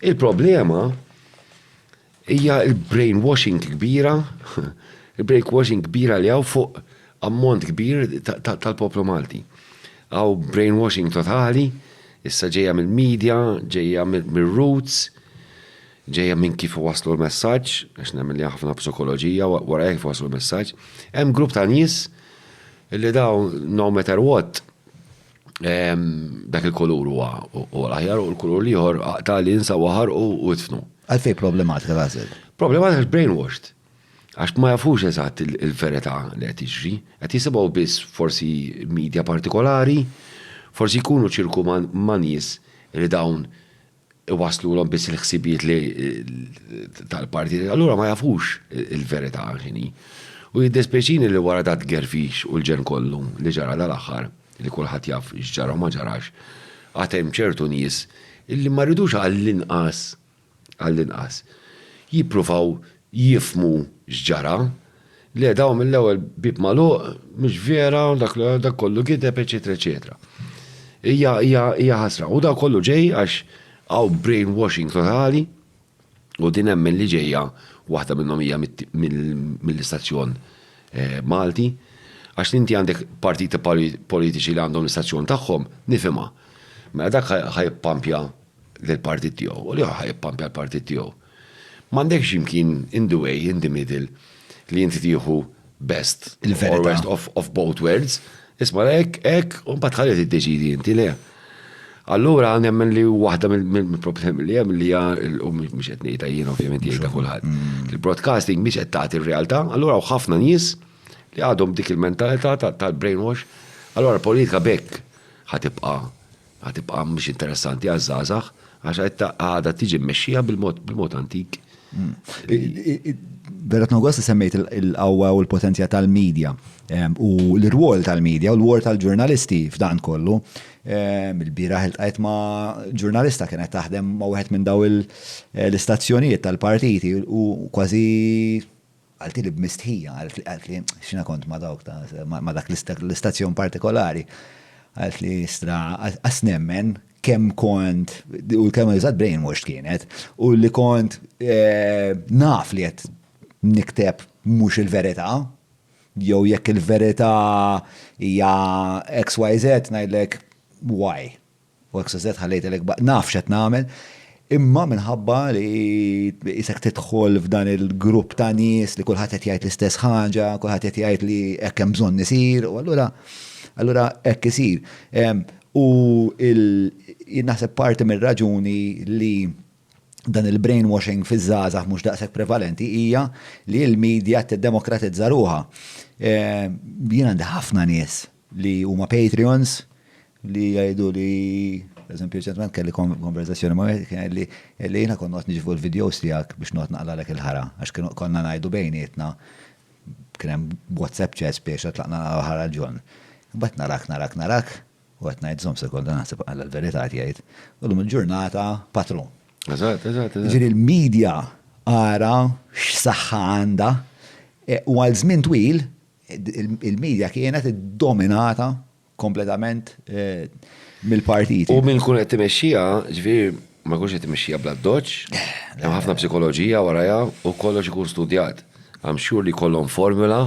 Il-problema hija l-brainwashing kbira, il-brainwashing kbira li hawn fuq ammont kbir tal-poplu Malti. Hawn brainwashing totali, issa ġejja mill-media, ġejja mir-roots, ġejja minn kif iwasslu l-messaġġ, għax nemmen li hemm ħafna psikoloġija wara kif iwasslu l-messaġġ. Hemm grupp ta' nies li dawn no matter what, dak il-kulur huwa l-aħjar u l-kulur liħor ta' li jinsa waħar u jitfnu. Għalfej problematika l-għazel? Problematika l-brainwashed. Għax ma jafux eżatt il-verita li għet iġri, għet jisibaw biss forsi media partikolari, forsi jkunu ċirku ma nies li dawn iwasslulhom biss il-ħsibijiet li tal-partijiet, allura ma jafux il-verità x'inhi. U jiddespjaċini li wara dat gerfix u l-ġenn kollu li ġara dal-aħħar, li kulħadd jaf x'ġara u ma ġarax, għad hemm ċertu nies illi ma jridux għall-inqas, għall-inqas, jippruvaw jifhmu x'ġara, le dawn mill-ewwel bieb magħluq, mhux vera, dak kollu gideb, eċetera eċetera. Hija hija hija ħasra. U dan kollu ġej għax hawn brainwashing totali u din nemmen li ġejja waħda minnhom hija mill-istazzjon Malti għax li inti għandek partiti politiċi li għandhom l-istazzjon tagħhom nifhimha. Mela dak ħa jippampja lill-partit tiegħu u l-ieħor ħa jippampja l-partit tiegħu. M'għandekx imkien in the way, in the middle li inti tieħu best or worst of both worlds. Isma' hekk, hekk, u mbagħad ħalli tiddeċidi inti le. Allura nemmen li waħda mill-problemi li hemm li hija u mhux qed ngħidha jien ovvjament jgħidha kulħadd. Mm. Il-broadcasting mhix qed tagħti r-realtà, allura hawn ħafna nies li għadhom dik il-mentalità tal-brainwash. Allura l-politika bekk ħatibqa' Għad tibqa' mhix interessanti għaż-żgħażagħ għax għadha tiġi mmexxija bil-mod antik. Vera tnogost li semmejt il-qawwa u l-potenzja tal-medja u l-rwol tal-medja u l-rwol tal-ġurnalisti f'dan kollu. Il-biraħ il-tqajt ma' ġurnalista kienet taħdem ma' wieħed minn daw l-istazzjonijiet tal-partiti u kważi Qaltilli b'mistħija, qaltli, qaltli, x'jiena kont ma' dawk ta', ma' dak l-istazzjon partikolari, qaltli, Istra, qas nemmen kemm kont, u l-kelma li użat brainwashed kienet, u li kont naf li qed nikteb mhux il-verità, jew jekk il-verità hija XYZ ngħidlek Y. U hekk se żedt ħalli jgħidilek b'haqq naf x'qed nagħmel. Imma minħabba li qisek tidħol f'dan il-grupp ta' nies li kulħadd qed jgħid l-istess ħaġa, kulħadd qed jgħid li hekk hemm bżonn isir, u allura allura hekk isir. U jien naħseb parti mir-raġuni li dan il-brainwashing fiż-żgħażagħ mhux daqshekk prevalenti hija li l-media qed tiddemokratizza ruħha. Jien għandi ħafna nies li huma Patreons li jgħidu li eżempju ċentment kelli konverzazzjoni ma' wieħed li li jiena kont noqgħod niġvu l-videos tiegħek biex noqgħod naqlalek il-ħara għax kienu konna ngħidu bejnietna kien hemm WhatsApp chats biex tlaqna naqgħu ħara l-ġon. Imbagħad narak narak narak u qed ngħid żomm sekonda naħseb għal l-verità jgħid u llum il-ġurnata patrun. Eżatt, eżatt, eżatt. Ġifieri l-media ara x'saħħa għandha u għal żmien twil il-media kienet dominata kompletament eh, mill-partiti. U minn kun qed timexxija, ġifieri ma jkunx qed timexxija bla doċ, eh, hemm ħafna psikoloġija warajha u kollox ikun studjat. Għam xhur li kollhom formula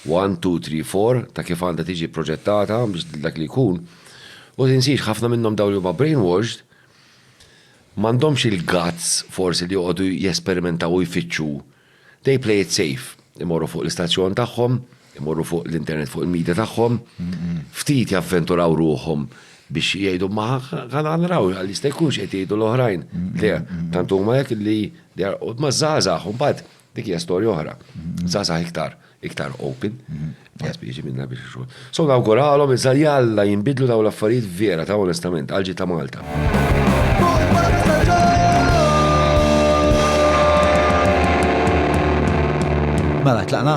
1, 2, 3, 4 ta' kif għandha tiġi proġettata biex dak li jkun. U tinsiex ħafna minnhom dawn li huma brainwashed m'għandhomx il-guts forsi li joqogħdu jesperimentaw u jfittxu They play it safe. Imorru fuq l-istazzjon tagħhom, imorru fuq l-internet fuq il-media tagħhom, ftit javventuraw ruħhom biex jgħidu ma għala nraw għal jista' jkunx qed jgħidu l-oħrajn. Le, tant huma hekk li ma żgħażagħ, imbagħad dik hija storja oħra. Żgħażagħ iktar. iktar open, għaz bieġi minna biex xogħol. So nawguralhom iżda jalla jinbidlu daw l-affarijiet vera ta' onestament għalġi ta' Malta. Mela tlaqna.